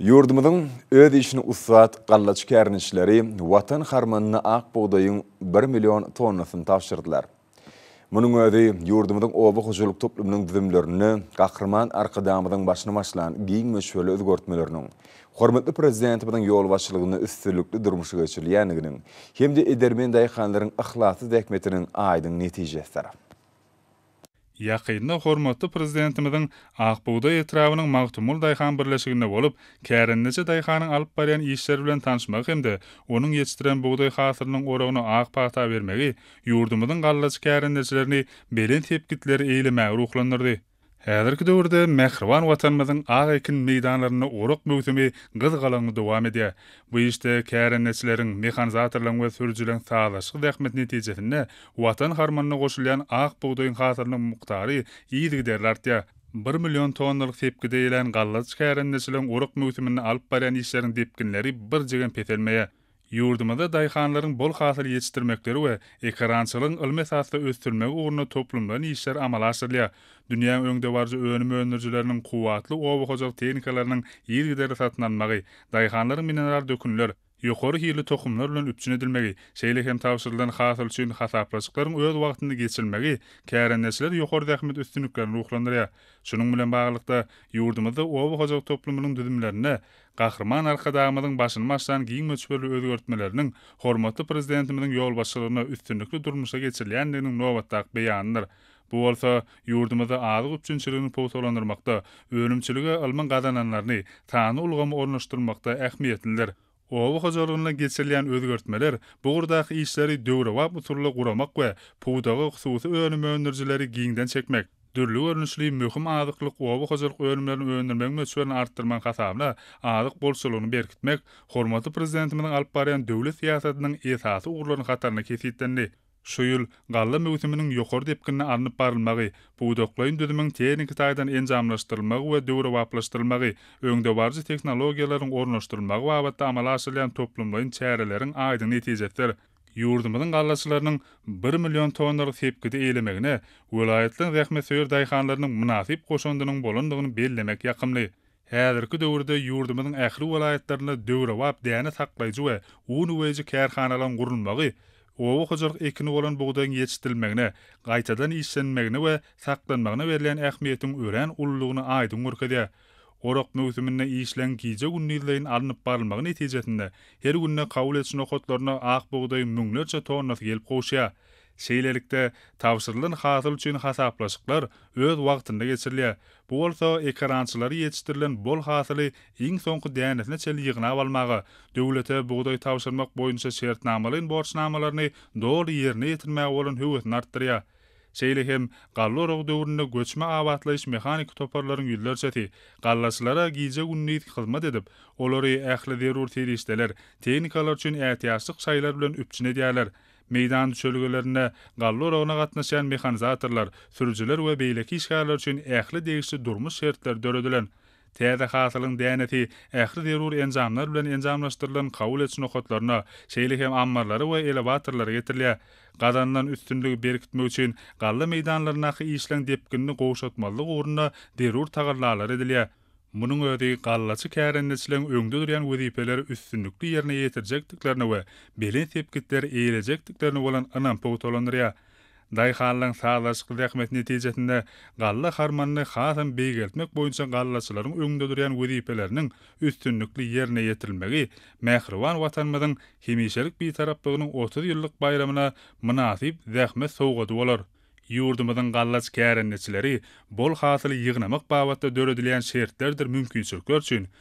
Ýurdumyzyň öz işini ussat gallaçy kärendeçileri Watan harmanyna ak bugdaýyň bir million tonnasyny tabşyrdylar. Munuň özi ýurdumyzyň oba hojalyk toplumynyň düzümlerinde Gahryman Arkadagymyzyň başyny başlan giň möçberli özgertmeleriniň, hormatly Prezidentimiziň ýolbaşçylygynda üstünlikli durmuşa geçirilýändiginiň hem-de edermen daýhanlaryň yhlasly zähmetiniň aýdyň netijesidir. Ýakynda hormatly Prezidentimiziň Ak bugdaý etrabynyň Magtymguly daýhan birleşiginde bolup, kärendeçi daýhanyň alyp barýan işleri bilen tanyşmagy hem-de onuň ýetişdiren bugdaý hasylynyň oragyna ak pata bermegi ýurdumyzyň gallaçy kärendeçilerini belent sepgitleri eýlemäge ruhlandyrdy. Häzirki döwürde mähriban Watanymyzyň ak ekin meýdanlarynda orak möwsümi gyzgalaňly dowam edýär. Bu işde kärendeçileriň, mehanizatorlaryň we sürüjileriň sazlaşykly zähmeti netijesinde Watan harmanyna goşulýan ak bugdaýyň hasylynyň mukdary yzygiderli artýar. Bir million tonnalyk sepgide eýlän gallaçy kärendeçileriň orak möwsüminde alyp barýan işleriniň depginleri birjigem peselmeýär. Ýurdumyzda daýhanlaryň bol hasyl ýetişdirmekleri we ekerançylygyň ylmy esasda ösdürilmegi ugrunda toplumlaýyn işler amala aşyrylýar. Dünýäň öňdebaryjy önüm öndürijileriniň kuwwatly oba hojalyk tehnikalarynyň yzygiderli satyn alynmagy, daýhanlaryň mineral dökünler, ýokary hilli tohumlar bilen üpjün edilmegi, şeýle hem tabşyrylan hasyl üçin hasaplaşyklaryň öz wagtynda geçirilmegi kärendeçileri ýokary zähmet üstünliklerine ruhlandyrýar. Şunuň bilen baglylykda, ýurdumyzda oba hojalyk toplumynyň düzümlerinde Gahryman Arkadagymyzyň başyny başlan giň möçberli özgertmeleriniň hormatly Prezidentimiziň ýolbaşçylygynda üstünlikli durmuşa geçirilýändiginiň nobatdaky beýanydyr. Bu bolsa ýurdumyzda azyk üpjünçiligini pugtalandyrmakda, önümçilige ylmyň gazananlaryny, sanly ulgamy ornaşdyrmakda ähmiýetlidir. Oba hojalygynda geçirilýän özgertmeler bu ugurdaky işleri döwrebap usulda guramak we pudaga hususy önüm öndürijileri giňden çekmek, Dürli görnüşli möhüm azyklyk oba hojalyk önümlerini öndürmegiň möçberini artdyrmagyň hasabyna azyk bolçulygyny berkitmek hormatly Prezidentimiziň alyp barýan döwlet syýasatynyň esasy ugurlarynyň hatarynda kesgitlendi. Şu ýyl galla möwsüminiň ýokary depginde alnyp barylmagy, pudaklaýyn düzümiň tehniki taýdan enjamlaşdyrylmagy we döwrebaplaşdyrylmagy, öňdebaryjy tehnologiýalaryň ornaşdyrylmagy babatda amala aşyrylýan toplumlaýyn çäreleriň aýdyň netijesidir. ýurdumyzyň gallaçylarynyň bir million tonnalyk sepgidi eýlemegine welaýatlaryň zähmetsöýer daýhanlarynyň mynasyp goşandynyň bolandygyny bellemek ýakymly. Häzirki döwürde ýurdumyzyň ähli welaýatlarynda döwrebap däne saklaýjy we un uweýji kärhanalaryň gurulmagy oba hojalyk ekini bolan bugdaýyň ýetişdirilmegine, gaýtadan işlenmegine we saklanmagyna berlen ähmiýetiň örän ululygyny aýdyň görkezýär. Orak möwsüminde işleň gije-gündizleýin alnyp barylmagy netijesinde, her günde kabul ediş nokatlaryna ak bugdaýyň müňlerçe tonnasy gelip gowuşýar. Şeýlelikde, tabşyrylan hasyl üçin hasaplaşyklar öz wagtynda geçirilýär. Bu bolsa ekerançylary ýetişdirilen bol hasyly iň soňky dänesine çenli ýygnap almaga, döwlete bugdaý tabşyrmak boýunça şertnamalaýyn borçnamalaryny doly ýerine ýetirmäge bolan höwesini artdyrýar. Şeýle hem, galla oragy döwründe göçme abatlaýyş-mehaniki toparlaryň ýüzlerçesi gallaçylara gije-gündiz hyzmat edip, olary ähli zerur serişdeler, tehnikalar üçin ätiýaçlyk şaýlar bilen üpjün edýärler. Meýdan düşelgelerinde galla oragyna gatnaşýan mehanizatorlar, sürüjiler we beýleki işgärler üçin ähli degişli durmuş şertleri döredilen. Täze hasylyň dänesi ähli zerur enjamlar bilen enjamlaşdyrylan kabul ediş nokatlaryna, şeýle hem ammarlara we elewatorlara getirilýär. Gazanylan üstünligi berkitmek üçin galla meýdanlaryndaky işleň depginini gowşatmazlyk ugrunda zerur tagallalar edilýär. Munuň özi gallaçy kärendeçileň öňde durýan wezipeleri üstünlikli ýerine ýetirjekdiklerine we belent sepgitleri eýelejekdiklerine bolan ynam pugtalandyrýar. Daýhanlaryň sazlaşykly zähmeti netijesinde galla harmanyny hasam beýgeltmek boýunça gallaçylaryň öňünde durýan wezipeleriniň üstünlikli ýerine ýetirilmegi mähriban Watanymyzyň hemişelik Bitaraplygynyň otuz ýyllyk baýramyna mynasyp zähmet sowgady bolar. Ýurdumyzyň gallaç kärendeçileri bol hasyly ýygnamak babatda döredilýän şertlerdir mümkinçilikler üçin